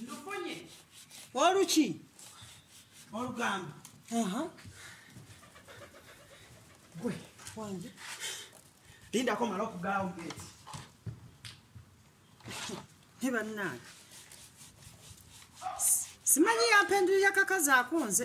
ndufunye oluki olugambo gwe wange lindako mala okugaawo geti ne bannange simanyi yampendulira kakazi akunze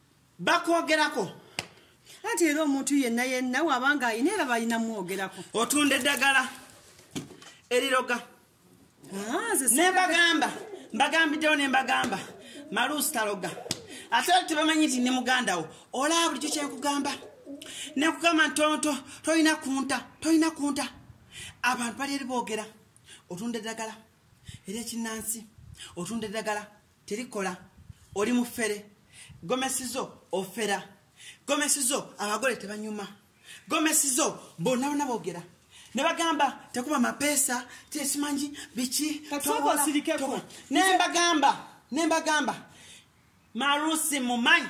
bakwogerako anti era omuntu yenna yenna wabanga ayina era balina mwogerako otunda eddagala eriroga ah, nembagamba mbagambiddewo nembagamba maluusi taloga ate tebamanyi nti ne mugandawo olaba bulikyo kyenkugamba nekugamba ntonto tolina kunta tolina kunta abantu bali eri boogera otunda eddagala era ekinnansi otunda eddagala terikola oli mufere gomesi zo ofera gomesi zo abagole tebanyuma gomesi zo bonna bona bogera ne bagamba tekuba mapeesa tesimanyi biki nembagamba nembagamba marusi mumanyi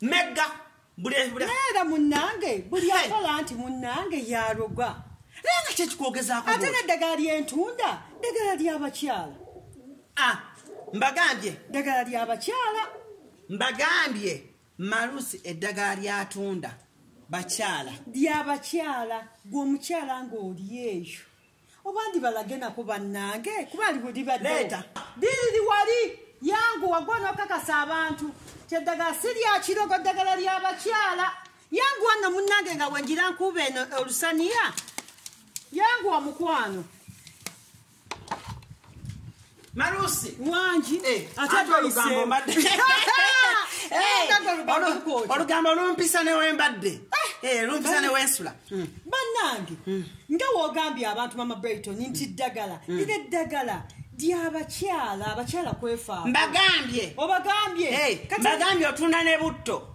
mega era munange buli akola nti munange yaroga naye nga kyekikwogezako ate neddagala lyentunda ddagala lyabakyala ah, mbagambye ddagala lyabakyala mbagambye malusi eddagala lyatunda bakyala lyabakyala gwe omukyala ngaoli eyo oba ndibalage nako bannange kuba alibulibadeta diriri wali yangu wagwa nokakasa abantu kyeddagala si lyakirogo ddagala lyabakyala yangu wanno munnange nga wenjira nkuuba eno olusaniya yangu wa mukwano Marusi. Wangi. Eh, ate olugambo mbadde. Eh, eh, olugambo lumpisa ne wembadde. Eh, eh lumpisa ne wensula. Hmm. Banange. Hmm. Nga wogambye abantu mama Brighton nti ddagala. Hmm. Ide ddagala. Dyabakyala, abakyala kwefa. Mbagambye. Obagambye. Hey, mbagambye otunda ne butto.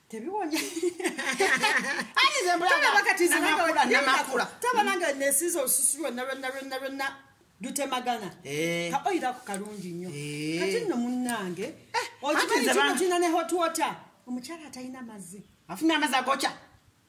taba nange nesiza olususu lwonna lwonna lwonna lwonna lutemagana eh. kaoyira ku kalungi nnyo eh. kati nno munnange eh, okimanyi kino kina ne hotwota omukyala atalina mazzi afuna amazzi agokya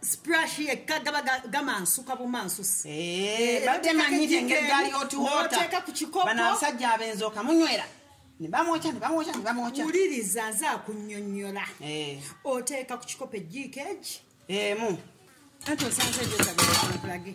sprash yekka gaba gamansuka bumansusi eh, bateeka ku kikopobanasajja abenzi okamunywera nebamwokya nebamwokya nebamwokya wuliriza nze akunyonyola eh. oteeka ku kikopo ejiiko egi emu anti osanze ejosagalage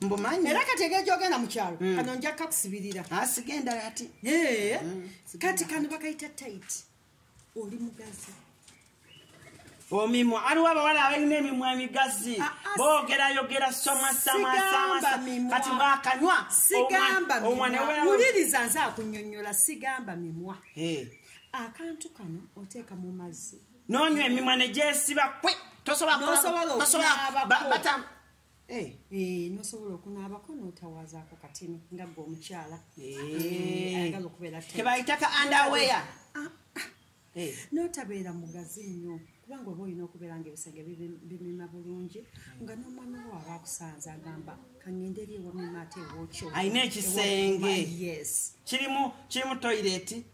mbumanyi era kati egeri gyogenda mu kyalo mm. kano nja kakusibirira asigenda ah, ati mm. kati kano bakayita tayiti oli mugazi omimwa aliwo abawala abalina emimwa emigazi ah, ah, bogerayogera somasamasamaskati bwakanywa sigamba wuliriza nze akunyonyola sigamba mimwa eh. akantu kano oteeka mu mazzi nonywa emimwa negyesiba kwe tosobola Eh. Eh, nosobola okunaabako notawazaako katini nga gwe omukyala eh. kebayitaka andawea ah, ah. notabeera mugazi nnyo kubanga oba olina okubeera nga ebisenge bimima bulungi hmm. nga nomwana wo aba akusanze agamba kangende eri ewamima ate ewokyo alina ekisenge kirimu toyireti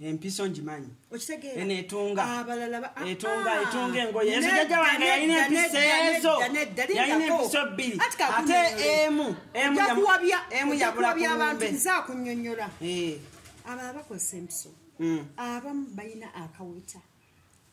empiso ngimanyi enetunga etunga etunga engoye ezo jaja wange yalina empiso ezo yalina empiso bbiri ate emu emu yabula kumbe nzakunyonyola eh. abala bakozesa empiso hmm. abamu balina akaweta